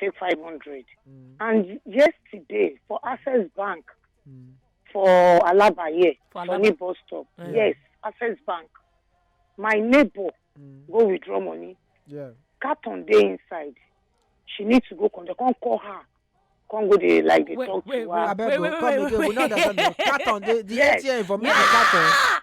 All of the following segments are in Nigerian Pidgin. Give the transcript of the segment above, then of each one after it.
take five hundred Mm. and yesterday for access bank Mm. for alaba here For for Alaba. me bus stop Mm. yes access bank my neighbor Mm. go withdraw money Yeah. carton dey inside she need to go come dey come call her come go dey like dey Wait, talk wait, to her. I beg Wait, you, wait, come wait, again. We wait. don't understand. you. Carton, the, the Yes. ATM for me, the carton.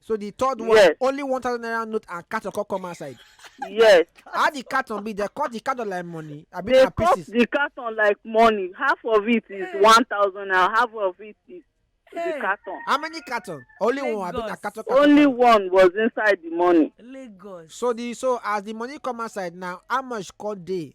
so the third one Yes. only one thousand naira note and carton come come outside yes how the carton be they cut the carton like money abi they na cut pieces the carton like money half of it is one thousand naira half of it is the Hey. carton how many carton only one abi na Lagos. carton carton only carton. one was inside the money lagos so the so as the money come outside now how much come dey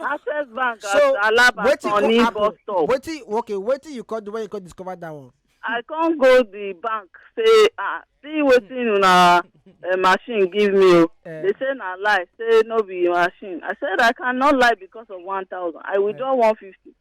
access bank at so alaba wetin come sunny bus happen stop wetin okay wetin you come do when you come discover that one. i come go the bank say ah see wetin una uh, machine give me o Eh. they say na lie say no be machine i said i cannot lie because of one thousand i withdraw one fifty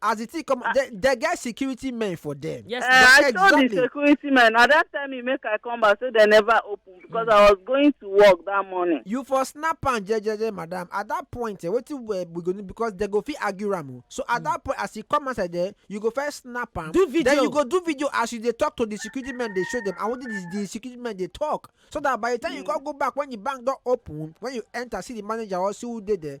as the thing come ah. they, they get security men for them. yes uh, i exactly. told the security men na that time he make i come back so they never open because mm. i was going to work that morning. you for snap am jejeje madam at that point eh, wetin uh, we go need because they go fit argue am o oh. so at mm. that point as you come outside there you go first snap am do video then you go do video as you dey talk to the security men dey show them and wetin the, the security men dey talk so that by the time mm. you hmm. come go back when the bank don open when you enter see the manager or see who dey there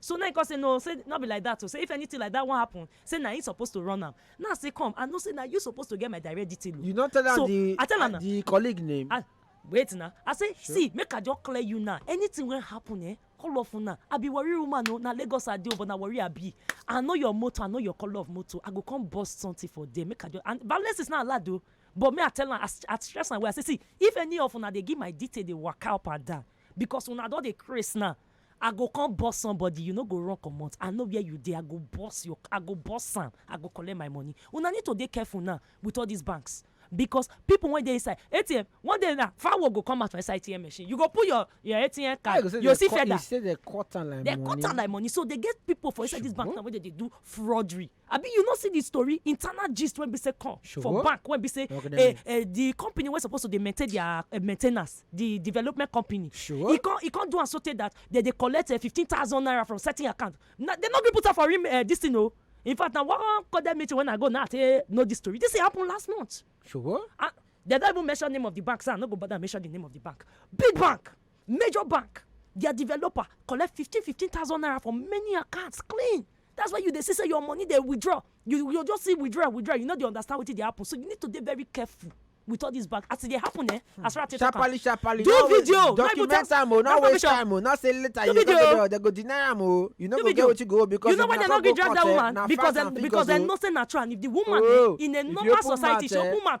So na im come say no o, say nor be like dat o, say if anytin like dat wan happun, say na im suppose to run am. Now say come, I know say na you suppose to get my direct detail o. You no tell am di I tell am na. di colleague name? I wait na, I say see make I just clear you now, anytin wey happun eh, all of una, I be Warri woman o, na Lagos I dey o but na Warri I be. I know your motor, I know your colour of motor, I go come burst sometin for there make I just and violence is not allowed o but me I tell am, I stress am well, I say see if any of una dey give my detail dey waka up and down, bicos una don dey craze now, I go come burst somebody you no go run comot I know where you dey I go burst your I go burst am I go collect my money una need to dey careful now with all this banks because people wey dey inside ATM one day now fowl go come out for inside ATM machine you go put your your ATM card you, you see feather you say they cut am like they money they cut am like money so they get people for inside this bank now wey dey dey do fraudery abi you no see dis tori internal gist wey be say come for bank wey be say eh, eh, di company wey suppose to dey maintain dia eh, maintenance di development company e come do am so tey dat dem dey collect fifteen thousand naira from certain account dem no gree put am for dis thing o oh. in fact na one cordial meeting when i go now say know dis story dis thing happen last month sure and dem don even mention name of di bank so i no go bother mention di name of di bank big bank major bank dia developer collect fifteen fifteen thousand naira for many accounts clean that's why you dey see say your money dey withdraw you you just see withdraw withdraw you no dey understand wetin dey happen so you need to dey very careful with all this bank as e dey happen eh as far as take talk am sharparly sharparly do no video no even document just am o no no waste permission time o no say later Do you go video. go there dem go deny am o you no Do go get video. wetin go because you know if why na dem no come gree go drag court that eh woman na because facts and dem because figures dem o know say na true and if the woman Oh, eh, in a if you normal open society mouth, she eh, open mouth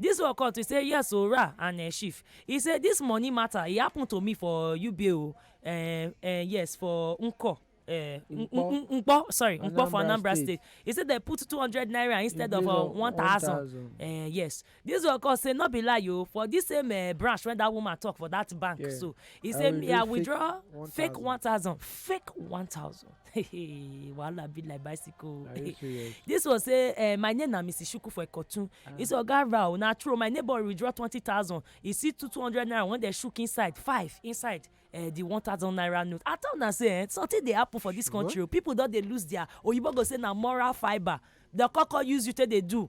Dis one come to say yes o ra and um shift. E say dis money matter e happen to me for Ube o um um yes for Nko um Nkpo sorry Nkpo for Anambra State. E say dem put two hundred naira instead of uh, one thousand. Um yes. Dis one come say no be lie o for dis same um branch when dat woman talk for dat bank so e say me I withdraw fake one thousand fake one thousand. wahala be like bicycle. Are you serious? this one say uh, my name na mrs shuku for ikotun ah. he say oga rao na true my neighbor withdraw twenty thousand he see two two hundred naira when dem shook inside five inside uh, the one thousand naira note i tell una say eh, something dey happen for this country o oh. people don dey lose their oyibo go say na moral fibre dem koko use you take dey do